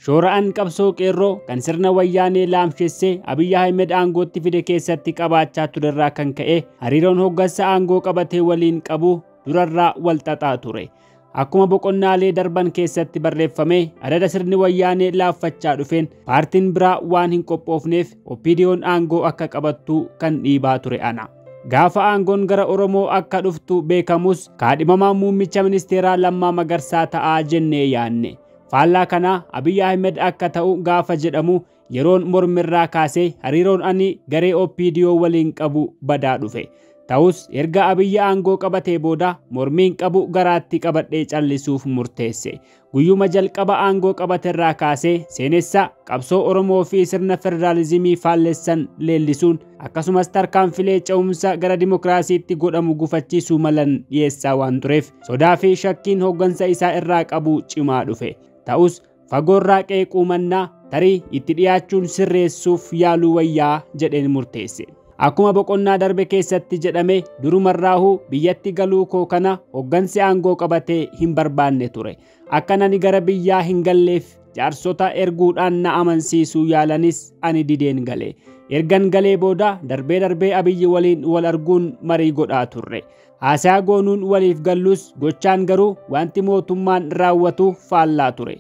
Shoora'an qabsoo qeerroo kan sirna wayyaanee laamshessee Abiyyi Ahmed aangootti fide keessatti qabaachaa turerraa kan ka'e hariiroon hoggansa aangoo qabatee waliin qabu durarraa wal xaxaa ture. Akkuma boqonnaalee darban keessatti barreeffame adada sirni wayyaanee laaffachaa dhufeen paartiin biraa waan hin qophoofneef OPDOn aangoo akka qabattu kan dhiibaa ture ana. Gaafa aangoon gara Oromoo akka dhuftu beekamus kaadhimamaan muummicha ministeeraa Lammaa Magarsaa ta'a jennee yaanne. Faallaa kanaa Abiy Ahmed akka ta'u gaafa jedhamu yeroon mormirraa kaasee hariiroon ani garee OPDO waliin qabu badaa dhufe. Ta'us erga Abiy aangoo qabatee booda mormiin qabu garaatti qabadhee callisuuf murteesse. Guyyuma jalqaba aangoo qabaterraa kaasee seenessa qabsoo Oromoo fi sirna federaalizimii faallessan leellisuun akkasumas tarkaanfilee ce'umsa gara dimokiraasiitti godhamu gufachiisuu malan dhiyeessaa waan tureef sodaa fi shakkiin hooggansa isaa irraa qabu cimaa dhufe. Ta'us fagoorraa qeequu mannaa tarii itti dhiyaachuun sirreessuuf yaaluu wayyaa jedheen murteesse. Akkuma boqonnaa darbe keessatti jedhame durumarraahuu biyyatti galuu koo kana hoggansi aangoo qabatee hin barbaanne ture. Akka nani gara biyyaa hin galleef jaarsota erguudhaan na amansiisuu yaalanis ani dideen gale. Ergan galee booda darbee darbee Abiyyi waliin wal arguun marii godhaa turre. Haasaa goonuun waliif gallus gochaan garuu wanti mootummaan raawwatu faallaa ture.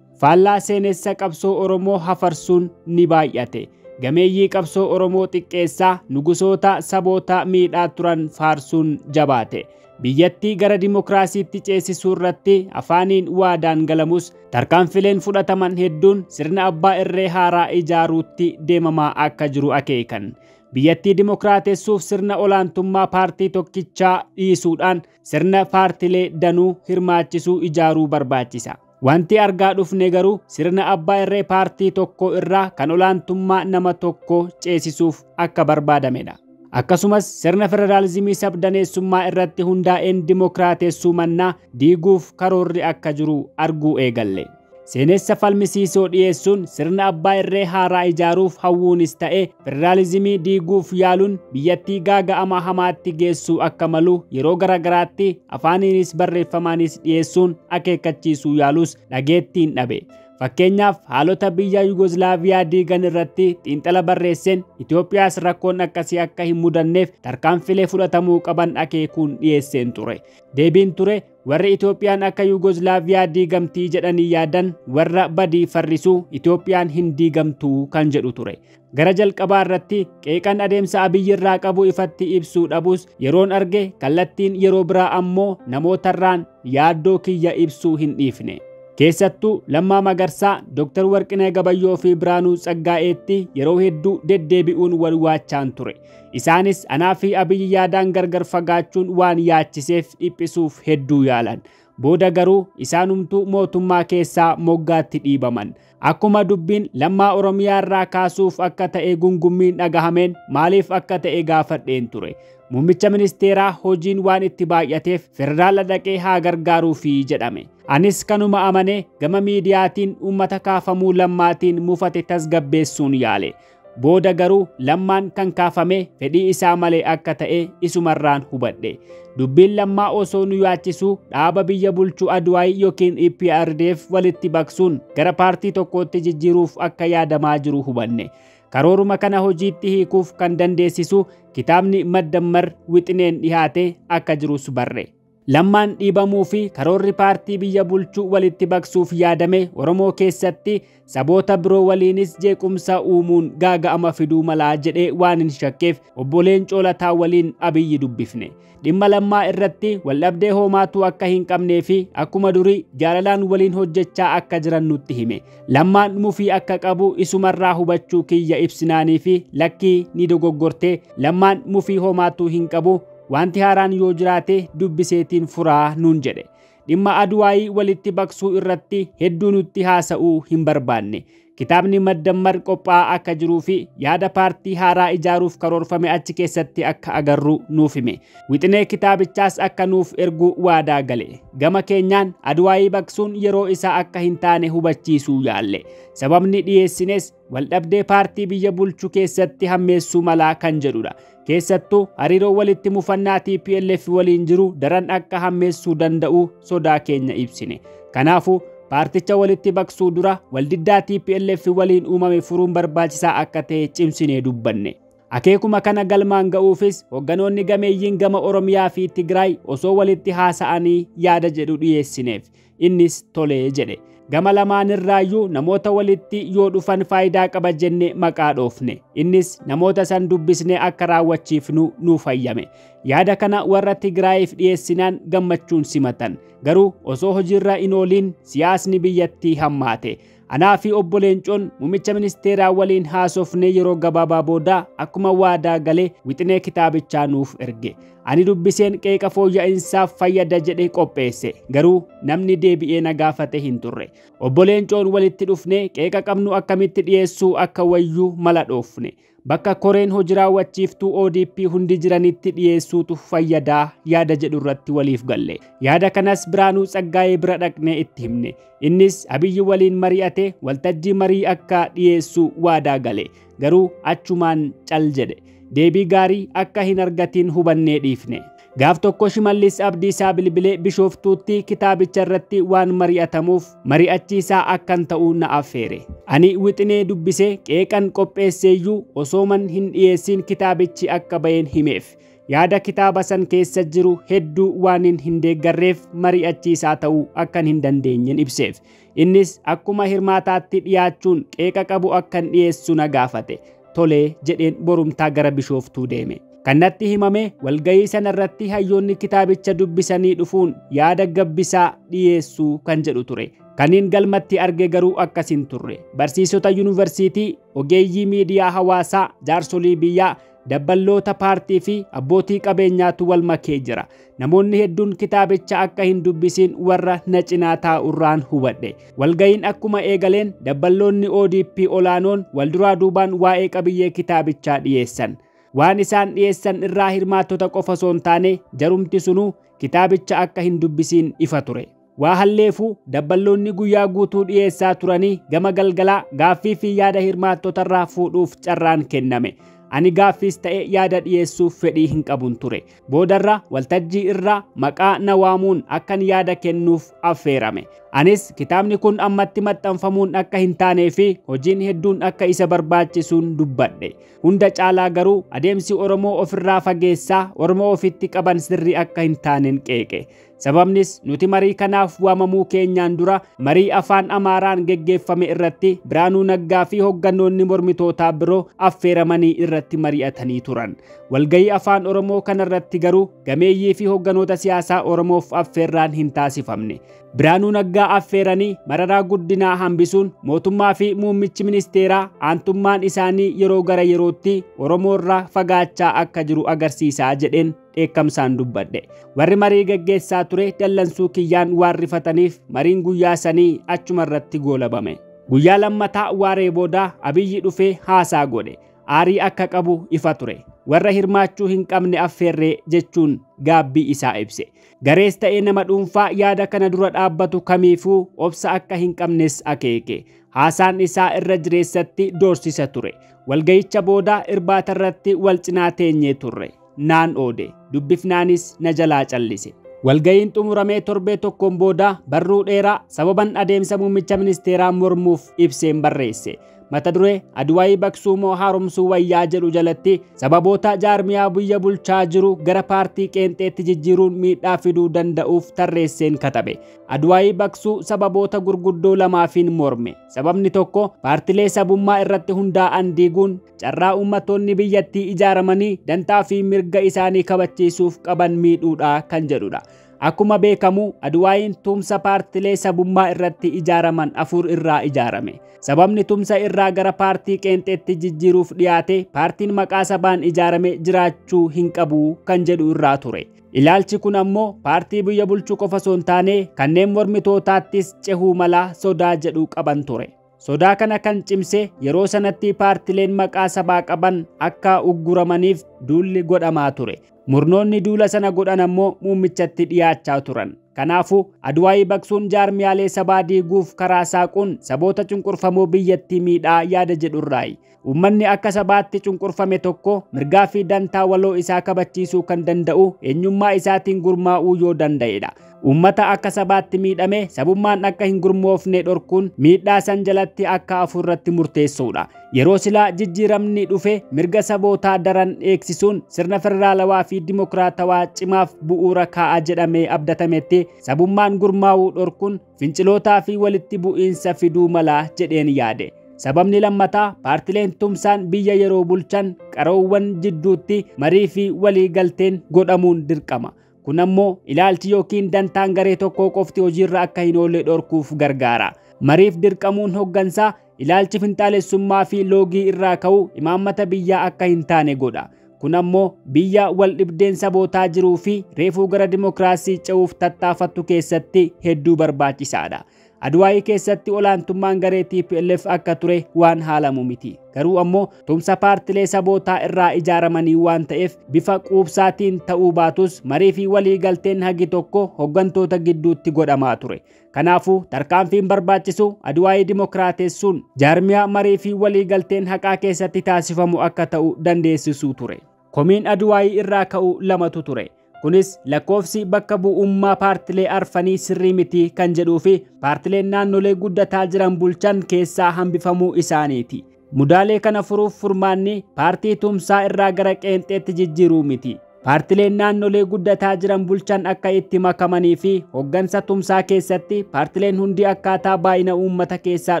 Faallaa seenessa qabsoo Oromoo hafarsuun ni baay'ate. Gameeyyii qabsoo Oromoo xiqqeessaa, nugusoota, saboota miidhaa turan faarsuun jabaate. Biyyattii gara dimokiraasiitti ceesisuu irratti afaaniin waadaan galamus, tarkaanfileen fudhataman hedduun sirna abbaa irree haaraa ijaaruutti deemamaa akka jiru akeekan. Biyyattii dimokiraatessuuf sirna olaantummaa paartii tokkichaa dhiisuudhaan sirna paartilee danuu hirmaachisuu ijaaruu barbaachisa. Wanti argaa dhufne garuu sirna abbaa irree paartii tokko irraa kan olaantummaa nama tokko ceesisuuf akka barbaadamedha. Akkasumas sirna federaalizimii sabdaneessummaa irratti hundaa'een dimokiraatessuu mannaa diiguuf karoorri akka jiru arguu eegalle. Seenessa falmisiisoo dhiyeessuun sirna abbaa irree haaraa ijaaruuf hawwuunis ta'ee Federaalizimii diiguuf yaaluun biyyattii gaaga'ama hamaatti geessuu akka malu yeroo garaagaraatti afaaniinis barreeffamaanis dhiyeessuun akeekkachiisuu yaalus dhageettiin dhabe. Fakkeenyaaf haalota biyya Yugoslaaviyaa diigan irratti xiinxala barreesseen Itoophiyaas rakkoon akkasii akka hin mudanneef tarkaanfilee fudhatamuu qaban akeekuun dhiyeesseen ture. Deebiin ture Warri Itoophiyaan akka Yuugozlaaviyaa diigamtii jedhanii yaadan warra badii farrisuu Itoophiyaan hin diigamtuu kan jedhu ture. Gara jalqabaa irratti qeeqan adeemsa Abiyyi irraa qabu ifatti ibsuu dhabus yeroon arge kallattiin yeroo biraa ammoo namootarraan yaaddoo kiyya ibsuu hin dhiifne. Keessattuu Lammaa Magarsaa, Dr. Warqinee Gabayyoo fi Biraanuu Tsaggaa'eetti yeroo hedduu deddeebi'uun wal waachaan ture. Isaanis anaa fi Abiy yaadaan gargar fagaachuun waan yaachiseef dhiphisuuf hedduu yaalan. Booda garuu isaanumtuu mootummaa keessaa moggaatti dhiibaman. Akkuma dubbiin Lammaa Oromiyaa irraa kaasuuf akka ta'e gungummiin dhagahameen maaliif akka ta'e gaafadheen ture. Muummicha ministeeraa hojiin waan itti baay'ateef federaala dhaqee haa gargaaruufi jedhame. Anis kanuma amanee gama miidiyaatiin uummata kaafamuu Lammaatiin mufate tasgabbeessuun yaale. Booda garuu Lammaan kan kaafame fedhii isaa malee akka ta'e isumarraan hubadhe. Dubbiin Lammaa osoo nu yaachisuu dhaaba biyya bulchu Adwaay yookiin EPRDF walitti baqsuun gara paartii tokkootti jijjiiruuf akka yaadamaa jiru hubanne. Karooruma kana hojiitti hiikuuf kan dandeessisu kitaabni Maddammar wixineen dhihaate akka jirus barre. Lammaan dhiibamuu fi karoorri paartii biyya bulchuu walitti baqsuuf yaadame Oromoo keessatti saboota biroo waliinis jeequmsa uumuun gaaga'ama fiduu malaa jedhee waan hin shakkeef obbo Leencoo Lataa waliin Abiyyi dubbifne. Dhimma lammaa irratti waldhabdee hoomaatuu akka hin qabnee fi akkuma durii jaalalaan waliin hojjechaa akka jiran nutti hime. Lammaan mufii akka qabu isumarraa hubachuu kiyya ibsinaanii fi lakkii ni dogoggortee lammaan mufii hoomaatuu hin qabu Wanti haaraan yoo jiraate dubbiseetiin furaa nuun jedhe. Dhimma Aduwaayii walitti baqsuu irratti hedduu nutti haasa'uu hin barbaanne. Kitaabni Maddammar qophaa'aa akka jiruu fi yaada paartii haaraa ijaaruuf karoorfame achi keessatti akka agarru nuuf hime. Wixinee kitaabichaas akka nuuf ergu waadaa gale. Gama keenyaan Aduwaayii baqsuun yeroo isaa akka hin taane hubachiisuu yaalle. Sababni dhiyeessines waldhabdee paartii biyya bulchu keessatti hammeessuu malaa kan jedhudha. Keessattuu hariiroo walitti mufannaa TPLF waliin jiru daran akka hammeessuu danda'u sodaa keenya ibsine. Kanaafuu paarticha walitti baqsuu dura waldiddaa TPLF waliin uumame furuun barbaachisaa akka ta'e cimsinee dubbanne. Akeekuma kana galmaan ga'uufis hogganoonni gameeyyiin gama Oromiyaa fi Tigraay osoo walitti haasa'anii yaada jedhu dhiyeessineef. Innis tole jedhe. Gama lamaanirraayyuu namoota walitti yoo dhufan faayidaa qaba jenne maqaa dhoofne. Innis namoota san dubbisne akka raawwachiifnu nuuf hayyame. Yaada kana warra Tigraayiif dhiyeessinaan gammachuun simatan. Garuu osoo hojiirra hin ooliin siyaasni biyyattii hammaate. Anaa fi obbo Leencoon muummicha ministeeraa waliin haasofnee yeroo gabaabaa booda akkuma waadaa gale wixinee kitaabichaa nuuf erge. Ani dubbiseen qeeqa fooyya'insaaf fayyada jedhe qopheesse. Garuu namni deebi'ee na gaafate hin turre. Obbo Leencoon walitti dhufnee qeeqa qabnu akkamitti dhiyeessuu akka wayyu mala dhoofne. Bakka koreen hojii raawwachiiftuu ODP hundi jiranitti dhiyeessuutu fayyadaa yaada jedhu irratti waliif galle. Yaada kanas Biraanuu Tsaggaayee bira dhaqnee itti himne. Innis Abiyyi waliin mari'ate waltajjii marii akka dhiyeessu waadaa gale. Garuu achumaan cal jedhe. Deebii gaarii akka hin argatiin hubannee dhiifne. Gaaf tokko Shimallis Abdiisaa bilbilee Bishooftuutti kitaabicha irratti waan mari'atamuuf mari'achiisaa akkan ta'u na affeere. Ani wixinee dubbisee qeeqan qopheesseeyyuu osooman hin dhiyeessiin kitaabichi akka ba'een himeef. Yaada kitaaba san keessa jiru hedduu waanin hin deeggarreef mari'achiisaa ta'uu akkan hin dandeenyen ibseef. Innis akkuma hirmaataatti dhiyaachuun qeeqa qabu akkan dhiyeessu na gaafate. Tolee jedheen borumtaa gara Bishooftuu deeme. Kan natti himame walgahii sana irratti hayyoonni kitaabicha dubbisanii dhufuun yaada gabbisaa dhiyeessuu kan jedhu ture. Kaniin galmatti arge garuu akkas hin turre. Barsiisota yuunivarsiitii, ogeeyyii miidiyaa hawaasaa, jaarsolii biyyaa, Dabballoota paartii fi abbootii qabeenyaatu wal makee jira. Namoonni hedduun kitaabicha akka hin dubbisiin warra na cinaa taa'urraan hubadhe. Walga'iin akkuma eegaleen dabballoonni ODP olaanoon wal duraa duubaan waa'ee qabiyyee kitaabichaa dhiyeessan. Waan isaan dhiyeessan irraa hirmaattota qofa osoo hin taane jarumti sunuu kitaabicha akka hin dubbisiin ifa ture. Waa halleefuu dabballoonni guyyaa guutuu dhiyeessaa turanii gama galgalaa gaaffii fi yaada hirmaattotarraa fuudhuuf carraan kenname. Ani gaaffiis ta'e yaada dhiyeessuuf fedhii hin qabun ture. Boodarra waltajjii irraa maqaa na waamuun akkan yaada kennuuf affeerame. Anis kitaabni kun ammatti maxxanfamuun akka hin taanee fi hojiin hedduun akka isa barbaachisuun dubbadhe. Hunda caalaa garuu adeemsi Oromoo ofirraa fageessaa Oromoo ofitti qaban sirrii akka hin taanen qeeqe. Sababnis nuti marii kanaaf waamamuu keenyaan dura marii afaan Amaaraan geggeeffame irratti Biraanuu Naggaa fi hoggannoonni mormitootaa biroo affeeramanii irratti mari'atanii turan. Walgahii afaan Oromoo kanarratti garuu gameeyyii fi hogganoota siyaasaa Oromoof affeerraan hin taasifamne. Biraanuu Naggaa affeeranii mararaa guddinaa hambisuun mootummaa fi muummichi ministeeraa aantummaan isaanii yeroo gara yerootti Oromoorraa fagaachaa akka jiru agarsiisaa jedheen. dheekkamsaan dubbadhe. Warri marii gaggeessaa ture dallansuu kiyyaan waan rifataniif mariin guyyaa sanii achuma irratti goolabame. Guyyaa lammataa waaree booda Abiyyi dhufee haasaa godhe. Aarii akka qabu ifa ture. Warra hirmaachuu hin qabne affeerree jechuun gaabbii isaa ibse. Garees ta'ee nama dhuunfaa yaada kana dura dhaabbatu kamiifuu obsa akka hin qabnes akeeke. Haasaan isaa irra jireessatti doorsisa ture. Walgayicha booda irbaata irratti wal cinaa teenyee turre. naan oode. Dubbifnaanis na jalaa callise. Walga'iin xumuramee torbee tokkoon booda barruu dheeraa sababan adeemsa muummicha ministeeraa mormuuf ibseen barreesse. Mata duree Adwaayii baqsuu moo haaromsuu wayyaa jedhu jalatti sababoota jaarmiyaa biyya bulchaa jiru gara paartii qeenxeetti jijjiiruun miidhaa fiduu danda'uuf tarreesseen katabe. Adwaayii baqsuu sababoota gurguddoo lamaafiin morme. Sababni tokko paartilee sabummaa irratti hundaa'an diiguun carraa uummattoonni biyyattii ijaaramanii dantaa fi mirga isaanii kabachiisuuf qaban miidhuudha kan jedhudha. Akkuma beekamu Adwaayiin tumsa paartilee sabummaa irratti ijaaraman afur irraa ijaarame. Sababni tumsa irraa gara paartii qeenxeetti jijjiiruuf dhiyaate paartiin maqaa sabaan ijaarame jiraachuu hin qabu kan jedhu irraa ture. Ilaalchi kun ammoo paartii biyya bulchuu qofa osoo hin taane kanneen mormitootaattis cehuu mala sodaa jedhu qaban ture. Sodaa kana kan cimse yeroo sanatti paartileen maqaa sabaa qaban akka ugguramaniif duulli godhamaa ture. Murnoonni duula sana godhan ammoo muummichatti dhiyaachaa turan. Kanaafuu Adwaayii baqsuun jaarmiyaalee sabaa diiguuf karaa saaquun saboota cunqurfamoo biyyattii miidhaa yaada jedhurraayi. Uummanni akka sabaatti cunqurfame tokko mirgaa fi dantaa waloo isaa kabachiisuu kan danda'u eenyummaa isaatiin gurmaa'uu yoo danda'edha. Uummata akka sabaatti miidhame sabummaan akka hin gurmoofne dhorkuun miidhaa san jalatti akka hafu irratti murteessuudha. Yeroo silaa jijjiiramni dhufe mirga sabootaa daran eegsisuun sirna federaalawaa fi dimokiraatawaa cimaaf bu'uura kaa'a jedhamee abdatametti sabummaan gurmaa'uu dhorkuun fincilootaa fi walitti bu'iinsa fiduu mala jedheen yaade. Sababni lammataa paartileen tumsaan biyya yeroo bulchan qaroowwan jidduutti marii fi walii galteen godhamuun dirqama. Kun ammoo ilaalchi yookiin dantaan garee tokkoo qofti hojiirra akka hin oolle dhorkuuf gargaara. Mariif dirqamuun hoggansaa Ilaalchi finxaalessummaa fi loogii irraa ka'u imaammata biyyaa akka hin taane godha. Kun ammoo biyya wal dhibdeen sabootaa jiruu fi reefuu gara dimokiraasii ce'uuf tattaafattu keessatti hedduu barbaachisaadha. Adwaayii keessatti olaantummaan garee TPLF akka ture waan haalamu miti. Garuu ammoo tumsa paartilee sabootaa irraa ijaaramanii waan ta'eef bifa quubsaatiin ta'uu baatus marii fi walii galteen hagi tokko hoggantoota gidduutti godhamaa ture. Kanaafuu tarkaanfiin barbaachisu Adwaayii dimokiraatessuun jaarmiyaa marii fi waliigalteen haqaa keessatti taasifamu akka ta'u dandeessisuu ture. Komiin Adwaayii irraa ka'u lamatu ture. Kunis lakkoofsi bakka bu'ummaa paartilee arfanii sirrii miti kan jedhuu fi paartileen naannolee guddataa jiran bulchan keessaa hambifamuu isaaniiti. Mudaalee kana furuuf furmaanni paartii tumsaa irraa gara qeenxeetti jijjiiruu miti. Paartileen naannolee guddataa jiran bulchan akka itti makamanii fi hoggansa tumsaa keessatti paartileen hundi akkaataa baay'ina uummata keessaa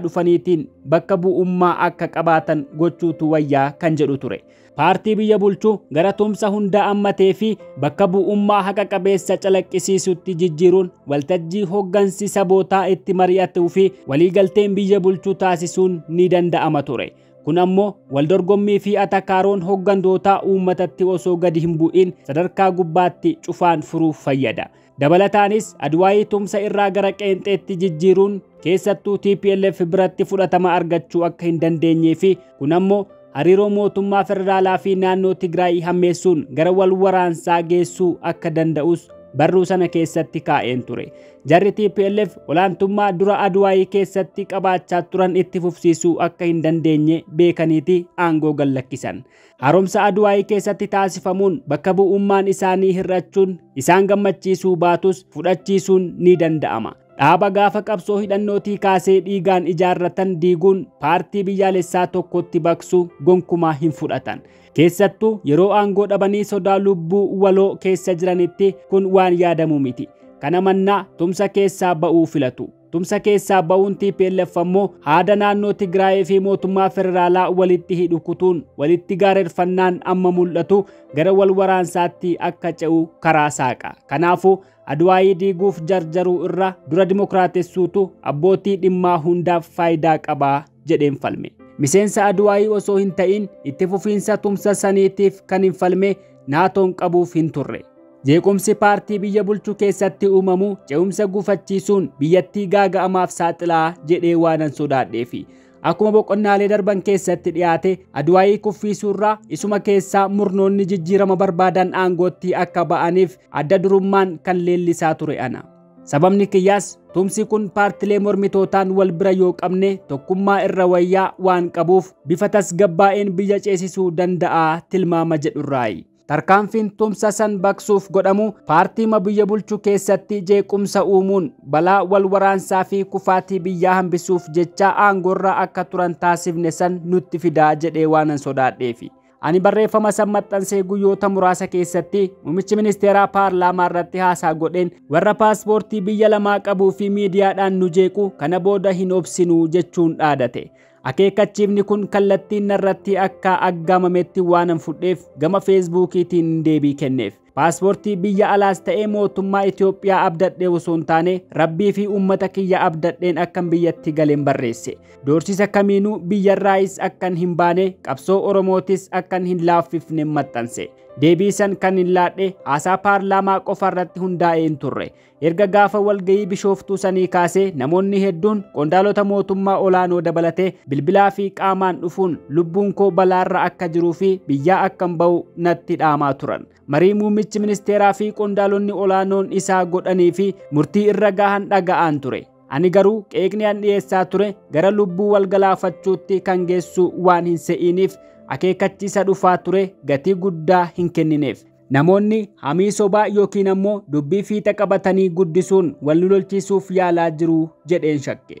dhufaniitiin bakka bu'ummaa akka qabaatan gochuutu wayyaa kan jedhu ture. paartii biyya bulchu gara tumsa hundaa ammatee fi bakka bu'ummaa haqa qabeessa calaqqisiisutti jijjiiruun waltajjii hoggansi sabootaa itti mari'atuu fi waliigalteen biyya bulchuu taasisuun ni danda'ama ture. Kun ammoo waldorgommii fi atakaaroon hoggantootaa uummatatti osoo gadi hin bu'iin sadarkaa gubbaatti cufaan furuuf fayyada. Dabalataanis Adwaayii tumsa irraa gara qeenxeetti jijjiiruun keessattuu TPLF biratti fudhatama argachuu akka hin dandeenyee fi kun ammoo hariiroo mootummaa federaalaa fi naannoo Tigraay hammeessuun gara wal waraansaa geessuu akka danda'us barruu sana keessatti kaa'een ture. Jarri TPLF olaantummaa dura Adwaayii keessatti qabaachaa turan itti fufsiisuu akka hin dandeenye beekaniiti aangoo gallakkisan. Haaromsa Adwaayii keessatti taasifamuun bakka bu'ummaan isaanii hir'achuun isaan gammachiisuu baatus fudhachiisuun ni danda'ama. Dhaaba gaafa qabsoo hidhannootii kaasee dhiigaan ijaarratan diiguun paartii biyyaalessaa tokkotti baqsuu gonkumaa hin fudhatan. Keessattuu yeroo aangoo dhabanii sodaa lubbuu waloo keessa jiranitti kun waan yaadamu miti. Kana mannaa tumsa keessaa ba'uu filatu. Tumsa keessaa ba'uun TPLF ammoo haada naannoo Tigraayii fi mootummaa federaalaa walitti hidhu kutuun walitti gaarerfannaan amma mul'atu gara wal waraansaatti akka ce'u karaa saaqa. Kanaafuu Adwaayii diiguuf jarjaruu irra dura dimokiraatessuutu abbootii dhimmaa hundaaf faayidaa qaba jedheen falme. Miseensa Adwaayii osoo hin ta'iin itti fufiinsa tumsa saniitiif kan hin falme naatoon qabuuf hin turre. Jeequmsi paartii biyya bulchu keessatti uumamu ce'umsa gufachiisuun biyyattii gaaga'amaaf saaxilaa jedhee waanan sodaadheefi. Akkuma boqonnaalee darban keessatti dhiyaate Adwaayii kuffiisuurraa isuma keessaa murnoonni jijjiirama barbaadan aangootti akka ba'aniif adda durummaan kan leellisaa ture ana. Sababni kiyyaas tumsi kun paartilee mormitootaan wal bira yoo qabne tokkummaa irra wayyaa waan qabuuf bifa tasgabbaa'een biyya ceesisuu danda'a tilmaama jedhurraayi. Tarkaanfiin tumsa san baqsuuf godhamu paartiima biyya bulchu keessatti jeequmsa uumuun balaa wal waraansaa fi kufaatii biyyaa hambisuuf jecha aangoorra akka turan taasifne san nutti fidaa jedhee waanan sodaadheefi. Ani barreeffama san maxxansee guyyoota muraasa keessatti muummichi ministeeraa paarlaamaa irratti haasaa godheen warra paaspoortii biyya lamaa qabuu fi miidiyaadhaan nu jeequ kana booda hin obsinu jechuun dhaadate. Akeekkachiifni kun kallattiin narratti akka aggaamametti waanan fudheef gama feesbuukiitiin deebii kenneef. Paaspoortii biyya alaas ta'ee mootummaa Itoophiyaa abdadhee osoo hin taane rabbii fi uummata kiyya abdadheen akkan biyyatti galeen barreesse. Doorsisa kamiinuu biyyarraayis akkan hin baane qabsoo Oromootis akkan hin laaffifne maxxanse. Deebii san kan hin laadhe haasaa paarlaamaa qofa irratti hundaa'ee hin turre. Erga gaafa walga'ii Bishooftuu sanii kaasee namoonni hedduun qondaalota mootummaa olaanoo dabalatee bilbilaa fi qaamaan dhufuun lubbuun koo balaarra akka jiruu fi biyyaa akkan ba'u natti dhaamaa turan. Marii muummichi ministeeraa fi qondaalonni olaanoon isaa godhanii fi murtii irra gahan dhaga'aan ture. Ani garuu qeeqni an dhiyeessaa ture gara lubbuu wal galaafachuutti kan geessu waan hin se'iiniif akeekkachiisa dhufaa ture gatii guddaa hin kennineef. Namoonni hamii sobaa yookiin ammoo dubbii fiixa qabatanii guddisuun wal nu lolchiisuuf yaalaa jiru jedheen shakke.